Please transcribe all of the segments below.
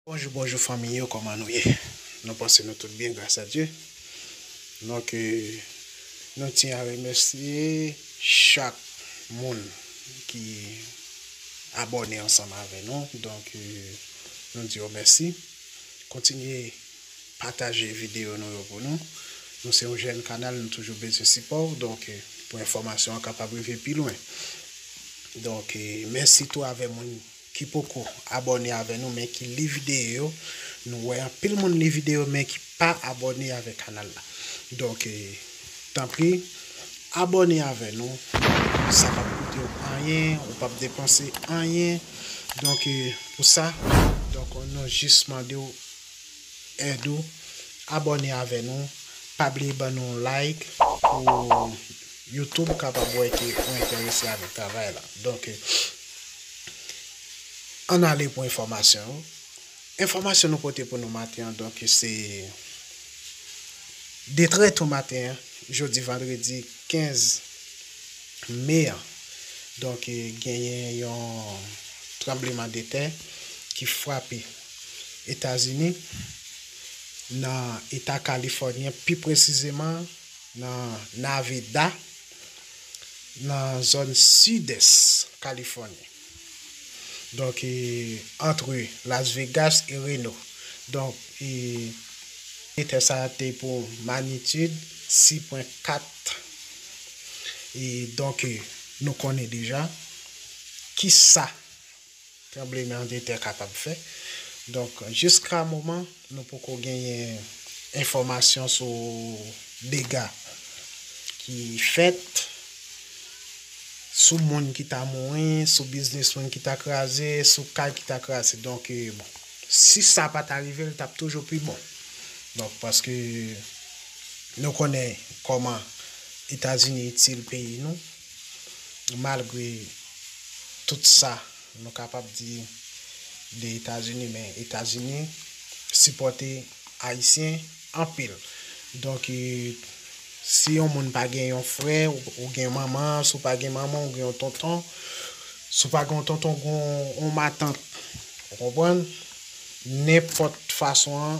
Bonjou bonjou fanmiy yo koman nou ye nou panse nou tout byen gras a Dye non ke nou tyen a remèsye chak moun ki abòne ansanm avè nou donk nou di yo mèsi kontinye pataje videyo nou yo pou nou nou se yon jèn kanal nou toujou bezwen sipò ou donk pou enfòmasyon an kapab rive pi lwen donk mèsi tou avè moun ki poko abòne avè nou men ki li videyo yo nou wè anpil moun li videyo men ki pa abòne avè kanal la donk tanpri abòne avè nou sa pap koutew anyen ou pap depanse anyen donk pou sa donk nou jis mandew èd ou abòne avè nou pa bliye ban nou yon like pou YouTube kapab wè ke ou entèrese avèk travay la donk ann ale pou enfòmasyon yo enfòmasyon nou pote pou nou maten an donk se de trè to maten an jodi vandredi 15 me an donk genyen yon tranbleman de tè ki frape Etazini, nan Eta Kalifònyen, pi presizeman nan Naveda, nan zòn sidès Kalifòni. Donk, antre Las Vegas e Reno. Donk, etè sa a te pou manitid 6.4. Donk, nou konnen deja ki sa tranbleman de tè kapab fè. Donk jiska moman nou poko genyen enfòmasyon sou dega ki fèt, sou moun ki ta mouri, sou biznis moun ki ta kraze, sou kay ki ta kraze. Donk bon, si sa pa ta rive l t ap toujou pi bon. Donk paske nou konnen kòman Etazini itil peyi nou. Malgre tout sa nou kapab di de Etazini men Etazini sipòte Ayisyen anpil. Donk si yon moun pa gen yon frè ou gen manman, si w pa gen manman ou gen yon tonton, si w pa gen yon tonton ou gen yon matant. Ou konprann? Nenpòt fason an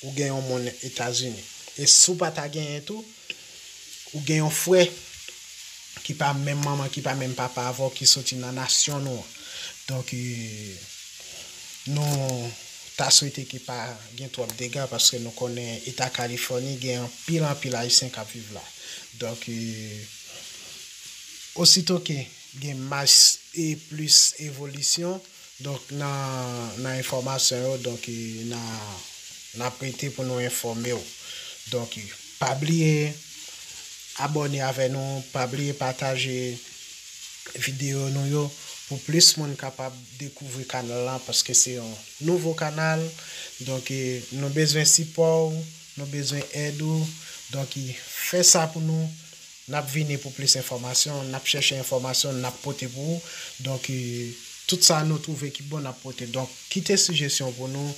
ou gen yon moun Etazini. E si w pa ta genyen tou. Ou gen yon frè ki pa menm manman, ki pa menm papa avè w, ki soti nan nasyon nou an. Donk, nou ta swete ke pa gen twòp dega, paske nou konnen eta Kalifòni gen anpil anpil Ayisyen kap viv la. Donk, osito ke gen mas e plis evolisyon, Donk nan enfòmasyon yo donk nap rete pou nou enfòmew donk pa bliye abòne avè nou pa bliye pataje video nou yo pou plis moun kapab dekouvri kanal lan paske se yon nouvo kanal donk nou bezwen sipòw nou bezwen èd ou donk fè sa pou nou. Nap vini pou plis enfòmasyon, nap chèche enfòmasyon nap pote pou ou, donk tout sa nou twouve ki bon nap pote, donk kite sijesyon pou nou,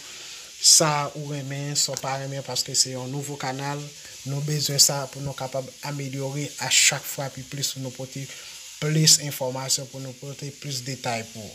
sa ou renmen, sa w pa renmen paske se yon nouvo kanal, nou bezwen sa pou nou kapab amelyore a chak fwa pi plis pou nou pote plis enfòmasyon, pou nou pote plis detay pou ou.